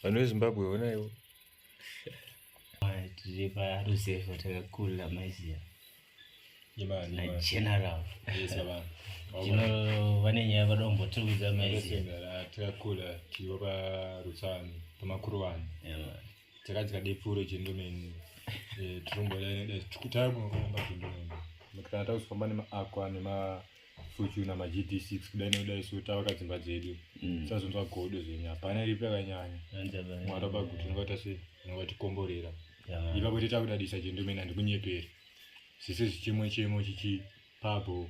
vanhu vezimbabwe onaiwo tiriparuseva takakula maiziva general tino vane nyaya vada kumbotiudza maiziva takakula tiriwo parutsani pamakuru vanhu takadya depuro chendomeni eh, trumbo takungoamba chendomeni kana takuzofamba nemaaqua nemafuchu namagd six kudai nekudai so tavaka dzimba dzedu mm. sazonzwa godo zvenyu hapana iripi yakanyanya mwari vabaguti unobata se unobatikomborera ipapo teta kudadisa chendomeni handikunyeperi zvese zvichemo chemo chichipabho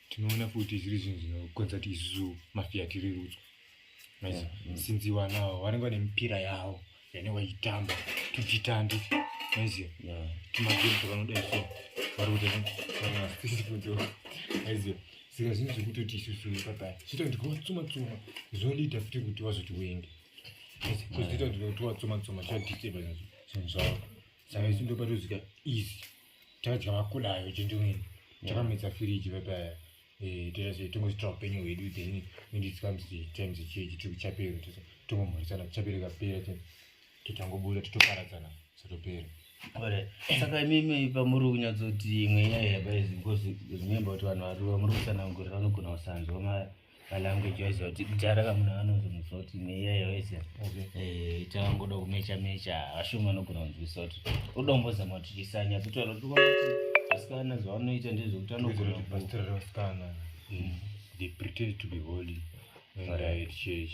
tinoona futi zviri zvinhu zvinokonza kuti isusu mafiya tirerutswe maizi mm. sinzi vana avo vanenge vane mipira yavo yane vaitamba tuchitandi maiziva tumagemu twavanoda isu vari kuta vanaasiifundo maiziva saka zvinhu zvekutoti isusu nepapaya zvita kuti kuvatsuma tsuma zvondiita futi kuti vazoti wenge zvita kuti kuvatsuma tsuma zvadiseba zvinhu zvavo saka isu ndopatozika easy takadya makulayo gentleman takamedza firiji vapaya eh, totase tongositra upenyu hwedu then indiskamsi times chechi tiri kuchapero tongomhorisana kuchapero kapera totangobuda totoparadzana satopera saka imimi pamuri kunyatsoti imwe nyaya yabaizi because remember kuti vanhu vari vamuri kutsanangurira vanogona kusanzwa maya malanguage wise kuti kudhara kamuna vanozi musoti neiyayo wese eh, itavangoda kumecha mecha vashumi vanogona kunzwisa kuti udombozama kuti chisanya titaura kuti kuti vasikana zvavanoita ndezvekuti anogona kubatsira vasikana mm. they pretend to be holy and yeah. church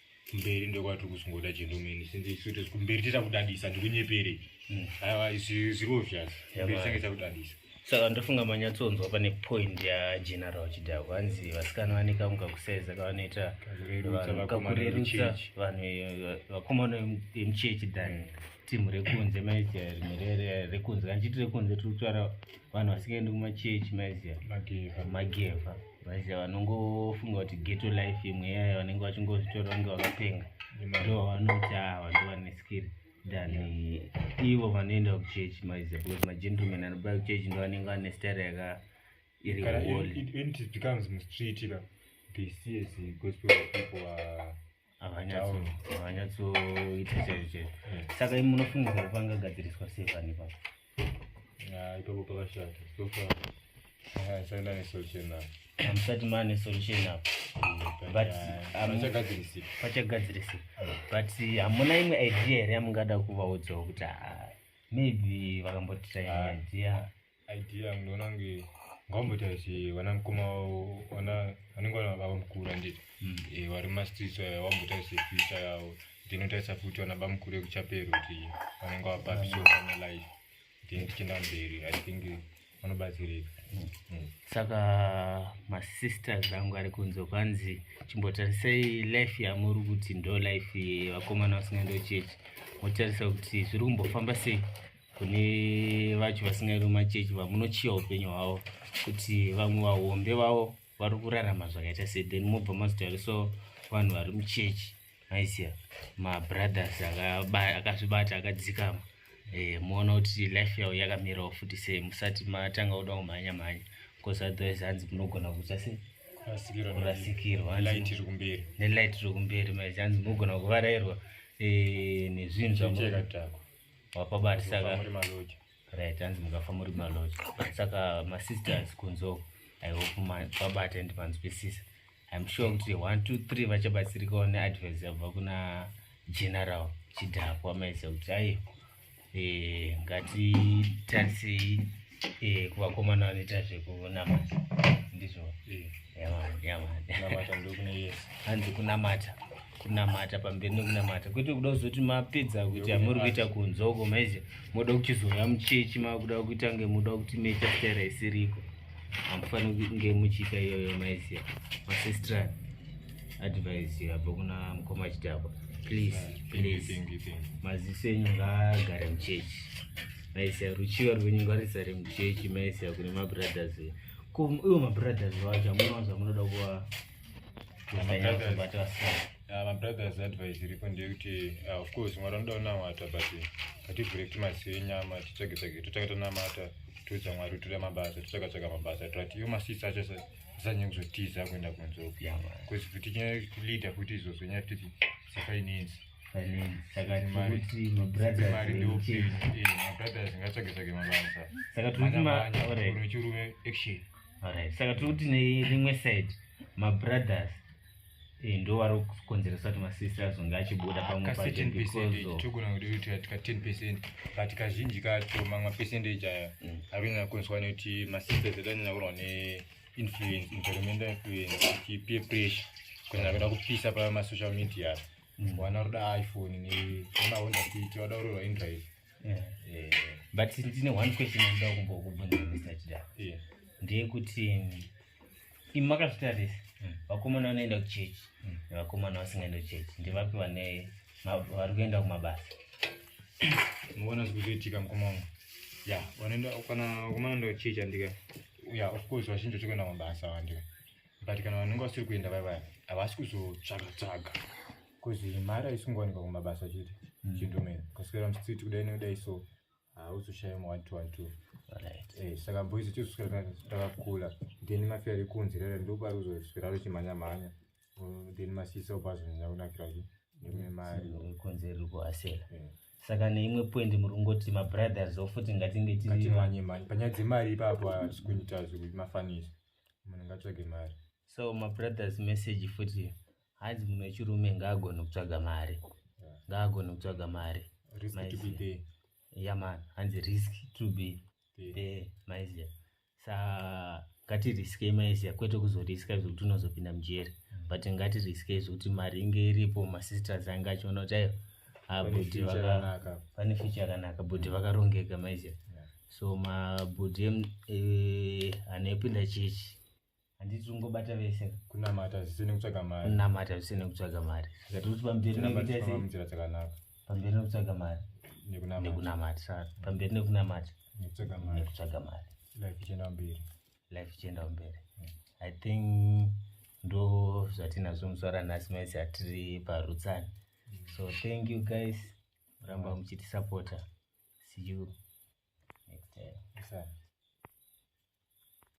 kumberi ndokwati kusungoda chendo mene since isu tiri kumberi tita kudadisa ndikunyepere hmm. aiwa ziro zvas kumberi sange takudadisa saka ndofunga manyatsonzwa pane point yageneral chidhako hanzi vasikana vaneka mukakusaiza kavanoita kakurerutsa vanhu eh, vakomana vemuchechi than timu rekunze maiti rekunze kana chiti rekunze tiri kutaura vanhu vasingaendi kumachechi maiziva mageva maiziva vanongofunga kuti geto life imwe yayo vanenge vachingozvitora vange vakapenga ndo vanoti ava ndo vane skiri than ivo vanoenda kuchechi maiziva because magentleman anoba kuchechi ndo vanenge vane stare yaka iri wall havanyatsoita chero chero eh. saka imi munofunga kuti pangagadziriswa sei pani ipapo ah, ipapo pakashata hamusati maane solution apo pachagadzirisika but hamuna imwe idea here yamungada kuvaudzawo kuti ah, maybe vakambotira imwe ah. idea idea yangu ndoona kunge ngaumboita kuti vana mukoma vana vanenge vavamukuru anditi hmm. eh, vari mumastreets aya vamboita kuti future yavo ndinotarisa futi vana bamukuru ekuchapero kuti vanenge vapapi so vana life then tichienda mberi i think vanobatsirika hmm. Hmm. saka masisters angu ari kunzo kwanzi chimbotarisai life yamuri kuti ndo life vakomana vasingaendo chechi motarisa kuti zviri kumbofamba sei kune vacho vasingairi mumachechi vamunochiva upenyu hwavo kuti vamwe vahombe vavo vari kurarama zvakaita se then mobva mazotariso vanhu vari muchechi maiziva mabrothers akazvibata akadzikama eh, moona kuti life yavo yakamirawo futi sei musati matanga kuda kumhanya mhanya bcause otherwise hanzi munogona kuta sei kurasikirwa nelight rikumberi maizi hanzi munogona kuvarairwa eh, nezvinhu zvamu wapabati saka right hanzi mukafa muri maloji saka masisters kunzo i hope mabata and manzwisisa im sure kuti one two three vachabatsirikawo neadvice yabva kuna general chidhakwa maisa kuti ayi eh, ngatitarisei eh, kuvakomana vanoita zvekunamata ndizvo eh. hanzi kunamata kunamata pamberi nekunamata kwete kuda kuzoti mapedza kuita muri kuita kunzoko maizha moda kuchizouya muchechi makuda kuita nge muda kuti meita stera isiriko hamufaniri kunge muchiita iyoyo maizha masistran advice yabva kuna mukoma chidhakwa please please maziso enyu ngaagare muchechi maizha ruchiva rwenyu ngarisare muchechi maizha kune mabrothers ko iwo mabrothers wacho amunowanza munoda kuva mabrothers advice iripo ndeyekuti ah, of course mwari anoda kunamata but hativhure kuti masiyo enyama titsvage tsvage totsvaka tonamata toudza mwari toda mabasa totsvaka tsvaka mabasa toati iyo masisi acho zanye kuzotiza kuenda kunze uku bcause futi nyalida futi izvozvo nyaya futi dzefinance mabrothers ngatsvage tsvage mabasa unochirume action Alright, saka tiri kuti nerimwe side mabrothers eh, ndo vari kukonzeresa kuti masisita azonge achibuda pamwe pacho kacertain because percent of- tichitogona kuti kuti katika 10 percent but kazhinji kacho mamwe percentage aya Mm. arikunyanya kukonzwa nekuti masisters edu anyanya kurwa ne influence environmental influence kuti peer pressure kunyanya kuda kupisa pa masocial media Mm. wana ruda iphone ne nemahonda city wada kurorwa indrive yeah. yeah. but ndine one question andaa kumbokubvunza mr chida yeah. ndeyekuti imi makazvitarisa mm. vakomana vanoenda kuchechi mm. nevakomana vasingaenda kuchechi ndivapi vane vari kuenda kumabasa muona zviri kuzoitika mukoma wangu ya vanoenda kana vakomana enda kuchechi andika ya of course vazhinji vachikuenda kumabasa vandika but kana vanenge vasiri kuenda vaya vaya havasi kuzotsvaga tsvaga Kuzi mari aisungowanikwa kumabasa chete. Mm. Chindomera. Kuswera mstreet kudai nekudai so hauzoshaya mu 1212. Right. Eh, saka boys tikuswera takakula. Then mafi ari kunzi rere ndopari uzoswera richimhanya mhanya. Mm, then masisa ubazo nyakunakira zvi. Nemwe mari. Kunzi riri kuhasela. Yeah. saka neimwe point muri kungoti mabrothers o futi ngatinge tiimanye mari panyaya dzemari ipapo hatisi kuita zvekuti mafanisi munhu ngatsvage mari so mabrothers message futi hanzi munhu wechirume ngaagone kutsvaga mari ngaagone kutsvaga mari yaman hanzi risk to be there maiziya sa ngatiriskei maiziya kwete kuzoriska zvekuti unozopinda mujeri mm. but ngatiriskei zvekuti mari inge iripo masisters ange achiona kuti ayo abhudhi ah, vane ficha yakanaka bhudhi vakarongeka maiziya so mabhudhi eh, anepinda chechi handiti ungobata vese kunamata zvisine kutsvaga mari kunamata zvisine kutsvaga mari saka tiri kuti pamberi nekuita sei munzira dzakanaka pamberi nekutsvaga mari nekunamata saka pamberi nekunamata nekutsvaga mari nekutsvaga mari life ichienda mberi life ichienda mberi hmm. i think ndo zvatinazvo muswara nhasi maisi atiri parutsani hmm. so thank you guys ramba muchitisapota see you next time